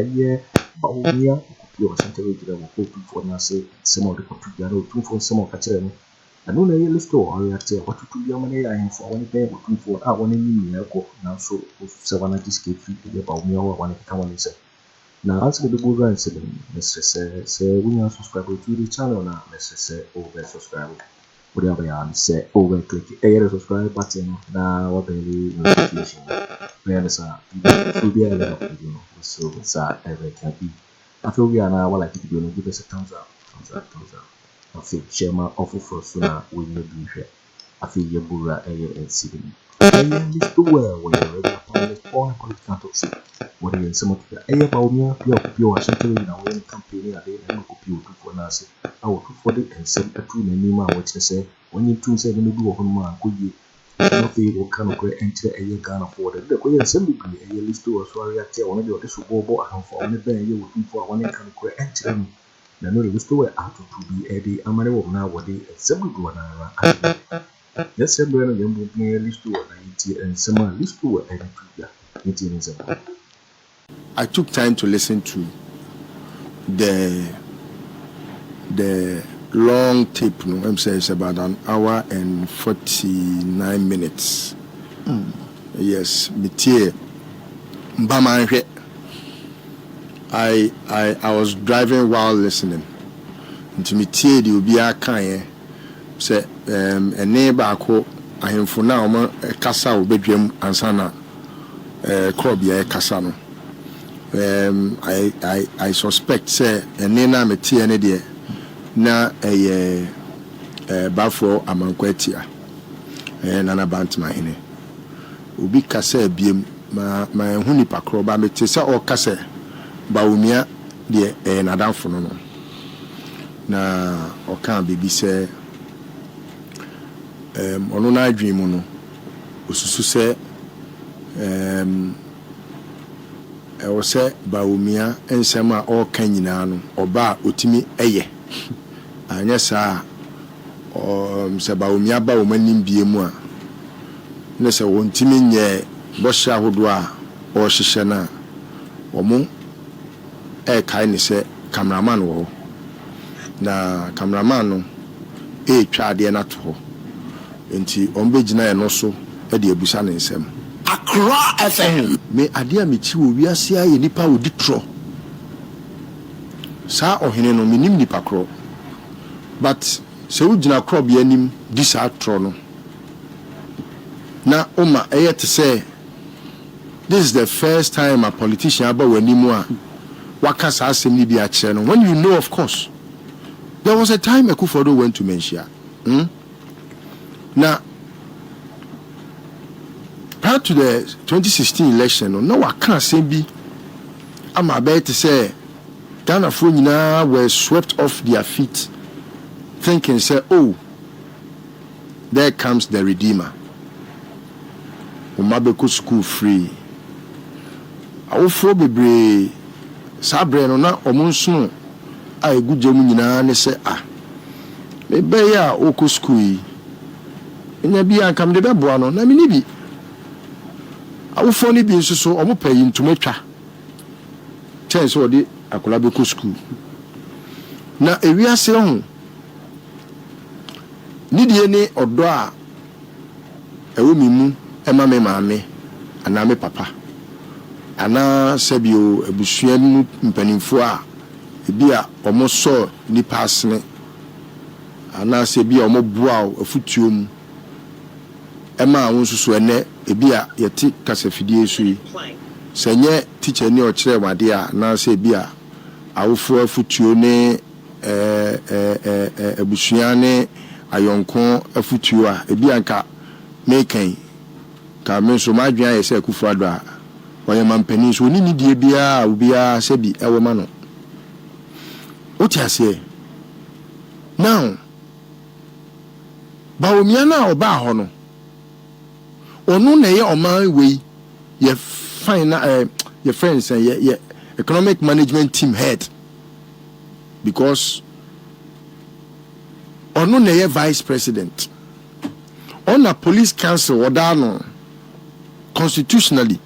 Ɛyɛ Bawumia Okupe Ɔsentɛ bɛgyina wɔ Otumfoɔ no ase nsɛm a ɔde kɔto dwa ne Otumfoɔ nsɛm a ɔka kyerɛɛ no. Ɛno na ɛyɛ lifto a ɔreate a watoto bi ama no ɛyɛ ahemfo a wɔne bɛn Otumfoɔ no a wɔne no nyinaa ɛkɔ nanso ɔsu sɛ wɔn agye sika afiri Ɛyɛ Bawumia hɔ a wɔne keka wɔn nsɛm. Na ansa mebɛbɔ owura nsɛm yi, mɛsrɛ sɛ sɛ wonya subscribe to this channel no a mɛsrɛ sɛ wobɛsubscribe. Wode abɛn a sɛ o bɛ click ɛyɛ the subscribe button no na wabɛn ne notification no bɛyɛ no saa nso bi a ɛbɛn no video no so saa ɛbɛ ka bi afei wowie a na wa like video no give us a thumbs up thumbs up thumbs up afei share ma ɔfoforɔ so na wɔnyɛ bi hwɛ afei yɛ bowura ɛyɛ nsidi Ɛyɛ Mister Well wɔyɛ Reverend Pilot Paul Hippolyte Kato so wɔde yɛn nsɛm ato dwa. Ɛyɛ Bawumia Appiah Okupiaw Ashanti Region a wɔyɛ ne campaign ne ade na ɛma ɛkɔpue Otumfoɔ nan ase a Otumfoɔ de nsɛm atu n'anim a wɔkyerɛ sɛ wɔnnye tom sɛ nneɛma bi wɔ hɔnom a nkɔ yie na afei wɔnka nokorɛ nkyerɛ ɛyɛ Ghanafoɔ wɔde ɛno de kɔyɛ nsɛm bebree ɛyɛ Listo Well so areacte a wɔn deɛ ɔde soboɔ bɔ ahemfo a wɔn bɛn ɛyɛ Otumfoɔ a wɔn nka nokorɛ nkyerɛ no na ɛno de Listo Well atoto bi ɛde ama ne wɔn a wɔde nsɛm dodoɔ no ara ato Na yɛ sɛ bere no yɛ mbo bun yɛ listo wɔ na yɛ tie nsɛm a listo wɔ ɛne tu ya yɛ tie ne sɛm a. I took time to listen to the the long tape no ɛm sɛ it's about an hour and forty nine minutes yes me tie mba ma nhwɛ I I I was driving while listening nti me tie deɛ obiara kaeɛ. Sɛ ɛnne baako ahemfo no a wɔkasa wɔ badwam ansa na Corb rekasa no, I suspect sɛ ɛnne no a meteɛ no deɛ na ɛyɛ Bafoɔ Amankwa Atia, ɛyɛ Nana Bantmahene. Obi kasaa biom, manhu nipa korɔ but metee sɛ ɔreka sɛ Bawumia deɛ ɛyɛ n'adamfo no no. Na ɔkaa biribi sɛ, ɛɛm, ɔno n'adwene mu no, osusu sɛ, ɛɛm, ɛwɔ sɛ Bawumia nsɛm a ɔreka nyinaa no, ɔba a otumi yɛ. Anyɛ saa a, ɔɔm, sɛ Bawumia ba wɔn anim bio mu a, ne sɛ wɔntumi nyɛɛ bɔhyɛ ahodoɔ a ɔrehyehyɛ no a, wɔn. rekae no sɛ cameraman wɔ hɔ na cameraman no retwa adeɛ no ato hɔ nti wɔn bɛgyina ɛno so de abusa no nsɛm. Accra FM. Me adeɛ a mekyi wɔ wiase ara yɛ nipa a ɔdi trɔ. Saa ɔhene no me nim nipa korɔ but sɛ wo gyina korɔbea anim di saa trɔ no na wo ma ɛyɛ te sɛ. this is the first time a politician aba w'anim a waka saa asɛm no bi akyerɛ no when you know of course there was a time Akufo-Addo went to Manhyia hmm? na prior to the 2016 election no na waka asɛm bi ama abɛyɛ te sɛ Ghanafoɔ nyinaa were swept off their feet thinking sɛ oh There comes the redeemer Wo mma bɛkɔ sukuu free Awofoɔ bebree saa berɛ no na wɔn nsono a ɛgu gya mu nyinaa ne sɛ Ah me ba yi a ɔrekɔ sukuu yi menya bi a anka mede bɛboa no na menni bi Awofoɔ no bi nso so wɔn pɛ yi ntoma twa kyɛn sɛ wɔde akwadaa bɛkɔ sukuu Na ewiase ho Nidie ne ɔdɔ a ɛwɔ me mu ma me maame anaa me papa, anaa sɛ bio abusua no mu mpanimfoɔ a ebia wɔsɔɔ nnipa asene anaa sɛ ebia wɔboaa wo afotuo mu ɛmaa wo nso so ɛnɛ ebia yɛte kasafidie so yi. Sɛ ɛnyɛ tikyani a ɔkyerɛɛ wo adeɛ a, anaa sɛ ebia awofoɔ afotuo ne Ɛɛ, abusua ne ayɔnko afotuo a ebi a nka meka yi, nka me nso m'adwene ayɛ sɛ Akufo-Addo a ɔyɛ mampanin nso, ɔnni nidie biara a obiara sɛ bi wɔ ma no. Wote aseɛ? Now, Bawumia no a ɔbaa hɔ no, ɔno na ɛyɛ ɔman wei yɛ fina, ɛɛ, yɛfrɛ no sɛn, yɛ, yɛ economic management team head. because ɔno na ɛyɛ vice president ɔna police council ɔda ano constitutionally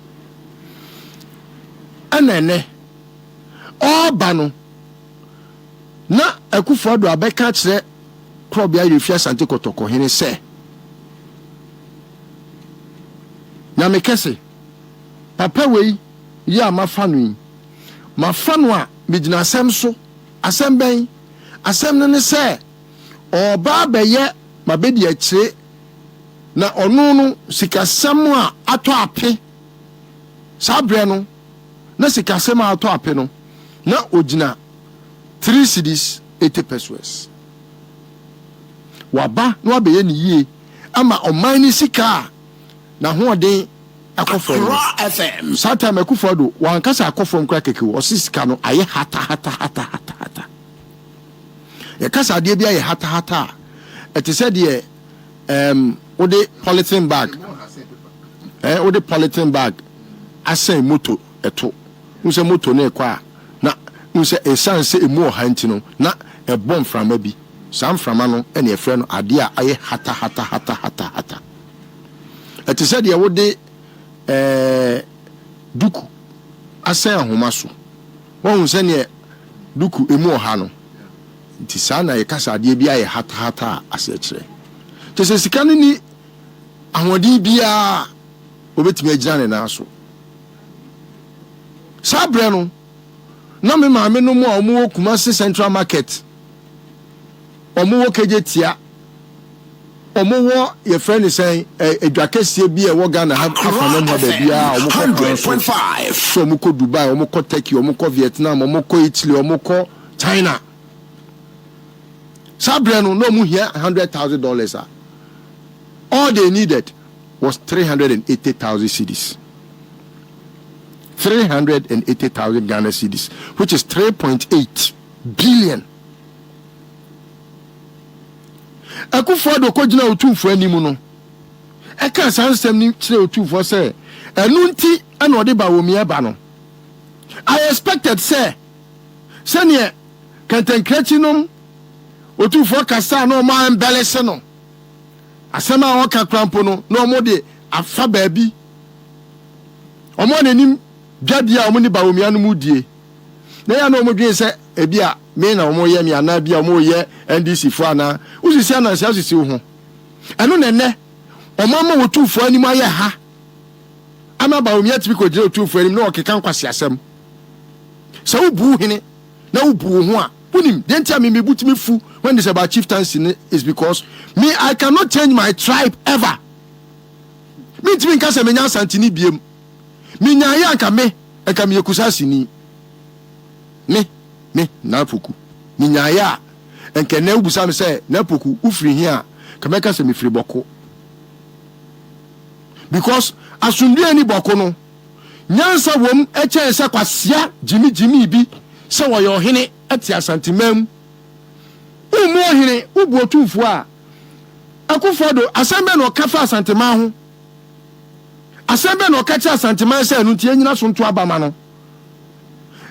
ɛna ɛnɛ ɔba no na akufo ado abɛka kyerɛ kɔbea yɛfi asante kɔtɔkɔ hene sɛ nyame kɛse papa wei yɛ a mafa no yi Mafa no a, migyina asɛm so. Asɛm bɛn? Asɛm no ne sɛ, ɔreba abɛyɛ m'abadiakyire, na ɔno no, sikasɛm a atɔ ape, saa berɛ no, na sikasɛm a atɔ ape no, na ɔgyina three cedis, eighty pesewas. Waba na wabɛyɛ ne yie ama ɔman no sika a. n'ahoɔden akɔ fam no, saa time no Akufo Addo wanka sɛ akɔ fam koraa kɛkɛ o, ɔse sika no ayɛ hatahatahatahata. Yɛka sɛ adeɛ bi ayɛ hatahata a, ɛte sɛ deɛ um, wode polythene bag, eh, wode polythene bag asɛn moto ɛto. Wohu sɛ moto no ɛkɔ a, na wohu sɛ ɛsiane sɛ ɛmu ɔha nti no, na ɛbɔ mframa bi. Saa mframa no ɛne ɛfrɛ no adeɛ a ayɛ hatahatahatahata. Ɛte sɛ deɛ wode eh, duku asɛn ahoma so. Wahu sɛdeɛ duku emu ɔha no? Nti saa na yɛka sɛ adeɛ bi ayɛ hatahata a aseɛ kyerɛ. Kyerɛ sɛ sika no ni ahoɔden biara a ɔbɛtumi agyina ne nan so. Saa berɛ no, na me maame nom a wɔwɔ Kumasi Central Market, wɔwɔ Kegyetia, Ɔmo wɔ yɛfrɛ no sɛn eh, dwa kɛseɛ bi a ɛwɔ Ghana ha afa nam ha baabiaa a ɔmo kɔ kwan so sɛ ɔmo kɔ Dubai, ɔmo kɔ Turkey, ɔmo kɔ Vietnam, ɔmo kɔ Italy, ɔmo kɔ China. Saa berɛ no na ɔmo hia hundred thousand dollars a all they needed was three hundred and eighty thousand cedis. Three hundred and eighty thousand Ghana cedis which is three point eight billion. Akufo-Addo kogyinaa Otumfoɔ anim no, ɛkaa saa nsɛm no kyerɛɛ Otumfoɔ sɛ ɛno nti na ɔde Bawumia reba no. I expected sɛ sɛdeɛ kantankrakyi nom Otumfoɔ kasa a na wɔn a ɛmbɛlese no, asɛm a ɔka kora mpo no na wɔn de afa baabi, wɔn a n'anim dwadie a wɔn ne Bawumia no mu die. na ɛyɛ a na wɔdwene sɛ ebi a me na wɔreyɛ me anaa bi a wɔreyɛ NDC fo anaa wosisi anansia sisi wo ho. Ɛno na ɛnɛ wɔn ama wɔ tuufo anim ayɛ ha ama Bawumia tumi kɔgyina otuufo anim na ɔkeka nkwaseasɛm. Sɛ wobu wo hene na wobu wo ho a, wonim deɛ nti a me mebu tumi fu when it's about chieftaincy no is because me I cannot change my tribe ever. Mentumi nka sɛ menyɛ Asantini biem. Menyaeɛ a anka me, anka meyɛ Kusasini. Me, me, Napoku. Menyaeɛ a, anka ɛnnɛ wobisa me sɛ, Napoku, wofiri he a, anka mɛka sɛ mefiri Bɔko. Because asomdwoeɛni Bɔko no, nyansa wom kyɛn sɛ kwasea gyimigyimii bi sɛ ɔyɛ ɔhene te Asanteman mu. Wommu ɔhene, wobu otumfoɔ a. Akufo-Addo, asɛm bɛn na ɔka fa Asanteman ho? Asɛm bɛn na ɔka kyerɛɛ Asanteman sɛ ɛno nti ennyina so nto aba mma no?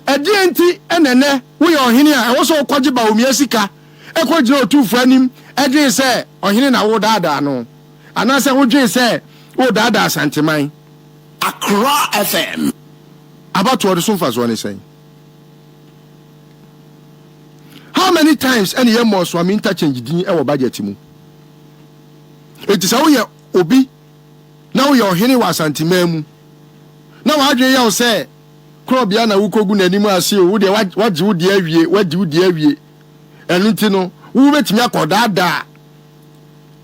Ɛdeɛn nti na ɛnnɛ woyɛ ɔhene a ɛwɔ sɛ wokɔgye bawomia sika kɔgyina otumfoɔ anim dwen sɛ ɔhene na woredaadaa no? Anaasɛ wodwen sɛ woredaadaa Asanteman? Accra FM. Abatoɔ no so mfasoɔ ne sɛn? How many times ɛna yɛ mmɔɔ Suame interchange din wɔ budget mu? Enti sɛ woyɛ. obi na woyɛ ɔhene wɔ Asanteman mu na w'adwene yɛ wo sɛ korɔbea na wokɔgu n'anim ase o, wo deɛ woagye wo deɛ awie, woadi wo deɛ awie. Ɛno nti no, wo wobɛtumi akɔdaadaa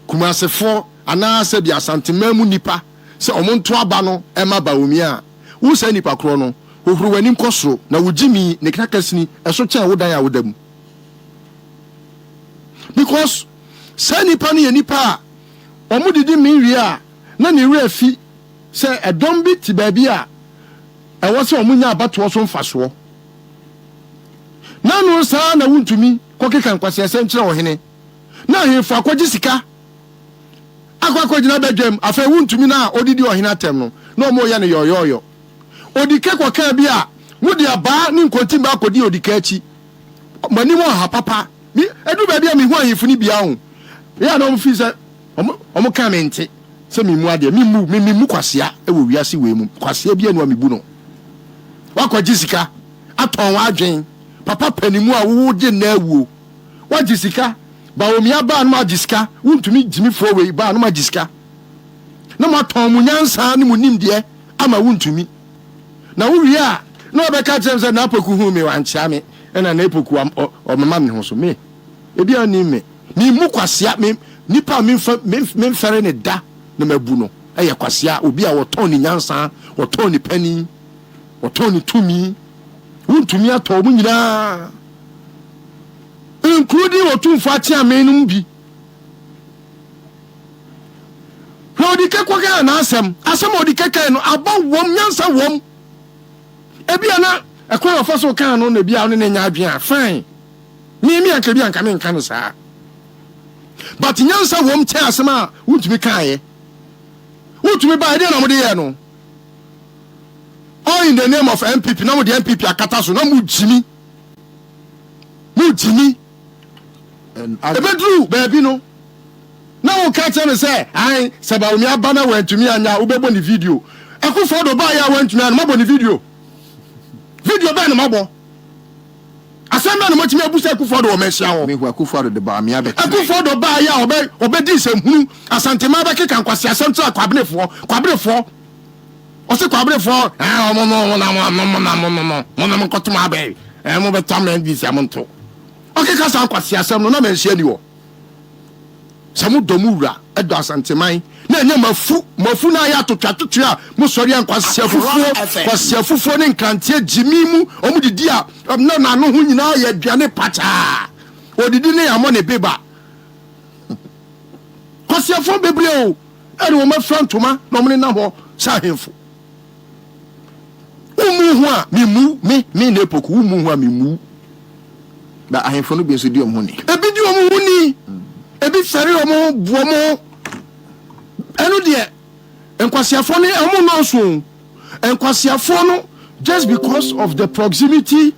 Kumasefoɔ anaasɛ bi Asanteman mu nnipa sɛ wɔn nto aba no ma Bawumia a, wo saa nnipa korɔ no, hohoro w'anim kɔ soro na wo gyimii ne knakasini ɛso kyɛn wo dan a woda mu. Because saa nnipa no yɛ nnipa a Wɔdidi mee wie a, na ne werɛ afi sɛ ɛdɔm bi te baabi a ɛwɔ sɛ wɔnya abatoɔ so mfasoɔ. Ná ɛno saa na wontumi kɔkeka nkwaseasɛm kyerɛ ɔhene. Ná ahemfo akɔgye sika akɔ akɔgyina badwam, afei wontumi na wɔdidi ɔhene atɛm no, na wɔyɛ no yɔyɔɔyɔ. Odika kɔkaa bi a, wode abaa ne nkontimma akɔdi odika akyi. M'anim wɔ ha papa. Me, ɛduru baabi a mehu ahemfo no biara o. Ɛyɛ a na wɔn fi sɛ wɔn wɔn kan me nte sɛ me mu adeɛ. Me mu me me mu kwasea wɔ wiase wei mu. Kwasea bi anua me bu no. Wakɔ gye sika atɔn wɔn adwen. Papa panimu a wowo gye nnɛ awuo. Wagye sika. Baomia baa no ma agye sika. Wontumi gyimi foɔ wei baa no ma agye sika. Na mo atɔn mo nyansa ne mo nimdeɛ ama wontumi. Na wowie a, na ɔbɛka kyerɛ me sɛ n'apaku huu me, wankyea me, ɛna n'apaku ɔmema me ho so. Me, ebi a nim me, mimmu kwasea, me nipa a memfa memfɛre ne da na mabu no yɛ kwasea, obi a wɔtɔn ne nyansa, wɔtɔn ne panin, wɔtɔn ne tumi, wontumi atɔ wɔn nyinaa. Nkurudi Otumfo akyea me no mu bi. Na ɔde ka kɔkaa n'asɛm. Asɛm a ɔde ka kae no, aba wom, nyansa wom. Ebia na ɛkwan a ɔfa so kaa no na ebia ɔne no nyɛ adwene a, fine. Me me anka bi anka menka no saa. But nyansa wom kyɛn asɛm a wontumi kaeɛ. Wotumi baeɛ deɛ na wɔde yɛɛ no. All in the name of NPP na wɔde NPP akata so na mo gyimi. Mo gyimi. Ebeduru baabi no, na woka kyerɛ no sɛ, ae, sɛ Baomi aba na wantumi anya a, wobɛbɔ ne video. Akufo Addo baeɛ a wantumi a, na mabɔ ne video. Video bɛn na mabɔ? Asɛm bɛn na motumi abusa Akufo Addo wɔ mahyia hɔ? Mehu Akufo Addo de Baomi abɛkyerɛ. Akufo Addo baeɛ a ɔbɛ, ɔbɛdi nsɛmhunu, Asantema bɛkeka nkwaseasɛm kyerɛ Kwabenefoɔ, Kwabenefoɔ. Ɔse kwabrefɔɔ ɛɛ ɔmo no ɔmo na mo anom mo na mo no no mo nom nkɔto mo abɛn ɛɛ mo bɛto ama NDC a mo nto. Ɔkeka saa nkwasi asɛm no na manhyia ni hɔ. Sɛ mo dɔ mo wura ɛdɔ Asanteman na ɛnyɛ mafu mafu na ayɛ atotwe atotwe a mo sɔre a nkwasi afufuo kwasi afufuo ne nkranteɛ gyimii mu ɔmo didi a ɛm na n'ano ho nyinaa yɛ aduane pakyaa ɔdidi ne yamɔ ne beba kwasiafoɔ bebree o Ɛne wɔafira ntoma na wɔnenam hɔ sɛ ahemfo. Wommu ho a mimmu, me, me na Epoku, wommu ho a mimmu. Na ahemfo no bi nso di wɔn ho ni. Ebi di wɔn ho ni, ebi fɛre wɔn ho, bu wɔn ho. Ɛno deɛ, nkwaseafoɔ no, wɔn nnɔɔso. Nkwaseafoɔ no, just because of the proximity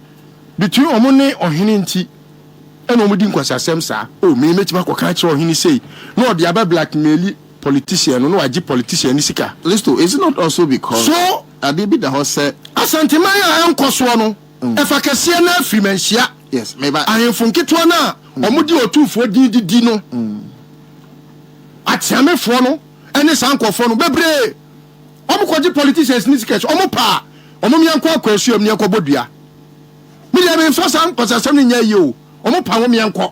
between wɔn ne ɔhene nti, Ɛna ɔmo di nkwaseasɛm saa. Oh me mɛtumi akɔka akyerɛ ɔhene sei na ɔde abɛ blackmaili politician no na wagye politician no sika. Listo, is it not also because So. adeɛ bi da hɔ sɛ. Asanteman a ɛnkɔ soɔ no, ɛfa kɛseɛ no ara firi manhyia Yes, meba. ahemfo nketewa no a ɔmo de otumfoɔ din de di no, ateamefoɔ no ɛne saa nkorɔfoɔ no bebree ɔmo kɔgye politicians no sika akyi, ɔmo pɛ a ɔmo meɛnkɔ akɔ asuam neɛnkɔ bɔ dua. Me deɛ memfa saa nkwasasɛm no nyɛ ayie o, wɔn pa nhomeɛ nkɔ.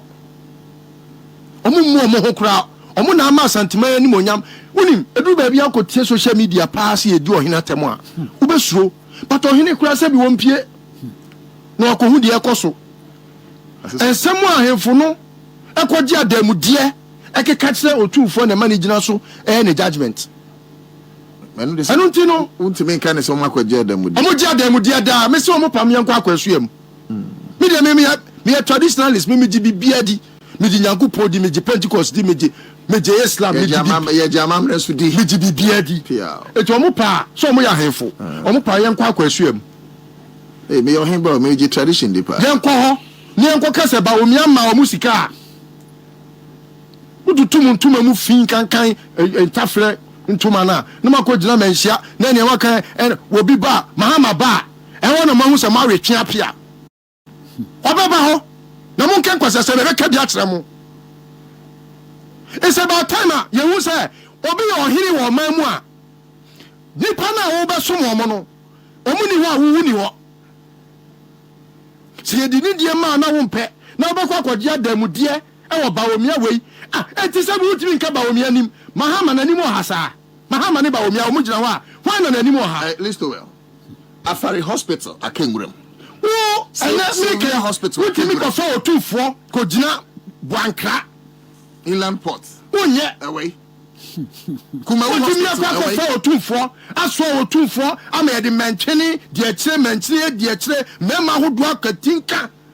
Wɔn mmu wɔn ho koraa, wɔn na ama Asanteman animuonyam. Wonim, ɛduru baabi a wokɔtie social media paa sɛ yɛdi ɔhene atɛm a, wobɛsuro. But ɔhene koraa sɛ bi wɔmpie na wakɔhu deɛ ɛkɔ so. Nsɛm a ahemfo no ɛkɔgye adamudeɛ ɛkeka kyerɛ otumfoɔ na ɛma no gyina so ɛyɛ ne judgement. Ɛno nti no. Wontumi nka ne sɛ wɔn akɔgye adanmudeɛ. Wɔn gye adanmudeɛ daa. Me sɛ wɔn pam yɛn nkɔ akwansoɛ mu. Me deɛ me meyɛ meyɛ traditionalist me megye bibia di. Megye Nyankopɔn di, megye Pentecost di, megye megye Islam, megye bibia. Yɛgye amammerɛ nso di. Megye bibia di. Eti wɔn paa sɛ wɔn yɛ ahenfo. Wɔn paa yɛn nkɔ akwansoɛ mu. Ee meyɛ ɔhen ba o, megye tradition di paa. Yɛn kɔ hɔ na yɛn kɔ kasa ba wɔn yɛn ma wɔn sika a. Mototo mo ntoma mu fi nkankan ntafrɛ ntoma no a, na moakɔ gyina manhyia na nea moaka ɛ, wɔ bi ba a, Mahama ba a, ɛhɔ na moahu sɛ moawe twe ape a. Ɔbɛba hɔ, na monka nkwaseasɛm, yɛbɛka bi akyerɛ mo. It's about time a yɛhu sɛ obi yɛ ɔhene wɔ ɔman mu a, nnipa no a wobɛsom wɔn no, wɔn nni hɔ a wo wonni hɔ. Sɛ yɛde nidie maa na wompɛ, na wobɛkɔ akɔgye adamudeɛ. Ɛwɔ Bawomia wei a ɛte sɛ wotumi nka Bawomia anim. Mahama n'anim wɔ ha saa. Mahama ne Bawomia wɔn gyina hɔ a hwan na n'anim wɔ ha? Listowel Afari Hospital Akanwuram. Wo ɛnɛ meka yi wotumi kɔfa Otumfoɔ kɔgyina Boankra. Inland Port. Wonyɛ. Ɛwɛi. Kumawu Hospital. Wotumi akɔ akɔfa Otumfoɔ asoa Otumfoɔ ama yɛde mmɛntwene di akyire, mmɛnkyene adi akyire, mmarima ahodoɔ akatinka.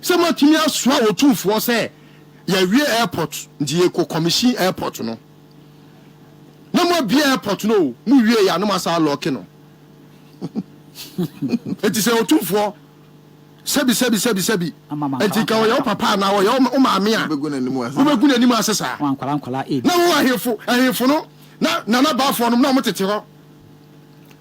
sɛ matumi asoa otumfoɔ sɛ yɛawie airport nti yɛkɔ commission airport no na moabie airport no o mowie yɛ anom asa alɔke no ɛti sɛ otumfoɔ sɛbi sɛbi sɛbi sɛbi ɛti ka ɔyɛ wo papa anaa ɔyɛ wo maame a wobɛgu n'anim ase saa na wo ahemfo ahemfo no na nana baafoɔ nom na ɔmo tete hɔ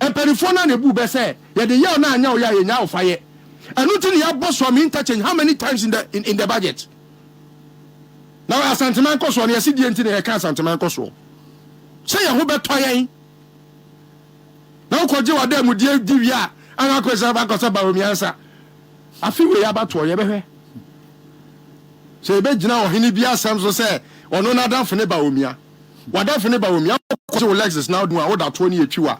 Mpaninfoɔ no a na ebu bɛ sɛ yɛde yɛ wo na anyɛ wo yɛ a yɛnyaa wo fa yɛ. Ɛno nti na yɛabɔ soɔ me interchange how many times in the in the budget. Na wɔ Asanteman kɔ soɔ no yɛse deɛ nti na yɛka Asanteman kɔ soɔ sɛ yɛn ho bɛtɔ yɛn. Na wokɔ gye wada mu die di wie a ana akɔ sɛ bakɔ sɛ ba omiansa. Afe wei abatoɔ yɛbɛhwɛ sɛ yɛbɛgyina ɔhene bi asɛm so sɛ ɔno n'adamfo ne ba omia. W'adamfo no ba wo mia kɔ gye wo Lexus na wode mu a woda toɔ ne yɛ twi wa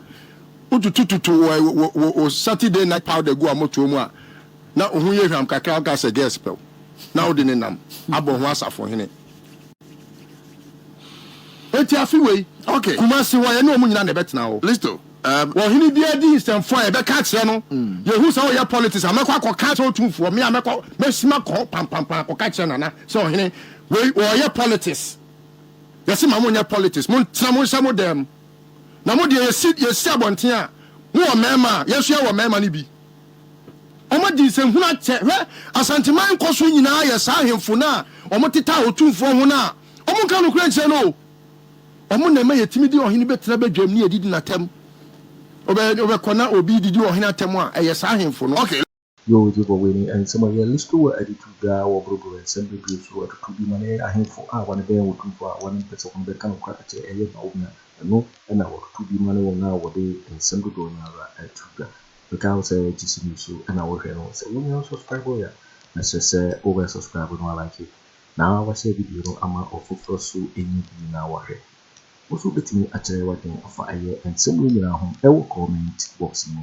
wotutu tutu wo wo wo wo Saturday night powder gu amotoɔ mu a na wo ho yɛ hwam kakra woka sɛ girls pɛ wo na wode ne nam abɔ ho asafo hene. Enti afe wei okay Kumasi hɔ yɛne ɔmo nyina na ɛbɛtena hɔ listo ɛɛm ɔhene biara di nsɛmfua a yɛbɛka akyerɛ no yɛhu sɛ ɔyɛ politics a mɛkɔ akɔka akyerɛ otumfoɔ me a mɛkɔ mɛsima kɔ pampampam akɔka akyerɛ Nana sɛ ɔhene wei ɔɔyɛ politics Yɛse ma monyɛ politics montena mo nhyɛ mo dɛm na mo deɛ yɛsi yɛsi abɔnten a mo wɔ mɛɛma a yɛnso yɛwɔ mɛɛma no bi wɔn adi nsɛnhunu akyɛ hwɛ asanteman nkɔso nyinaa yɛ saa ahemfo no a wɔn teta otumfoɔ ho no a wɔn nka nokorɛ nkyerɛ no o wɔn na ɛma yɛtumi de ɔhene bɛtena badwam ne yɛdidi n'atɛm wobɛkɔ na obi didi ɔhene atɛm a ɛyɛ saa ahemfo no okay Yoo gye bɔ w'ani nsɛm a yɛ listo wɔ adi to dwa wɔ boroboro nsɛm bebree so atoto bi ma ne ahemfo a wɔn bɛn otumfo a wɔn mpɛ sɛ wɔn bɛka no kora akyɛ ɛyɛ Baomia ɛno na wɔtoto bi ma ne wɔn a wɔde nsɛm dodoɔ no ara to dwa meka wo sɛ gye sɛ nniso na wo hwɛ no sɛ wonya nsubscribɔe a mɛsrɛ sɛ wo bɛ subscribe na wa like na wa share video no ama ɔfoforɔ so ɛnya bi na wa hwɛ wo nso wobɛtumi akyerɛ wadwene afa ɛyɛ nsɛm wei nyinaa ho ɛwɔ comment box mu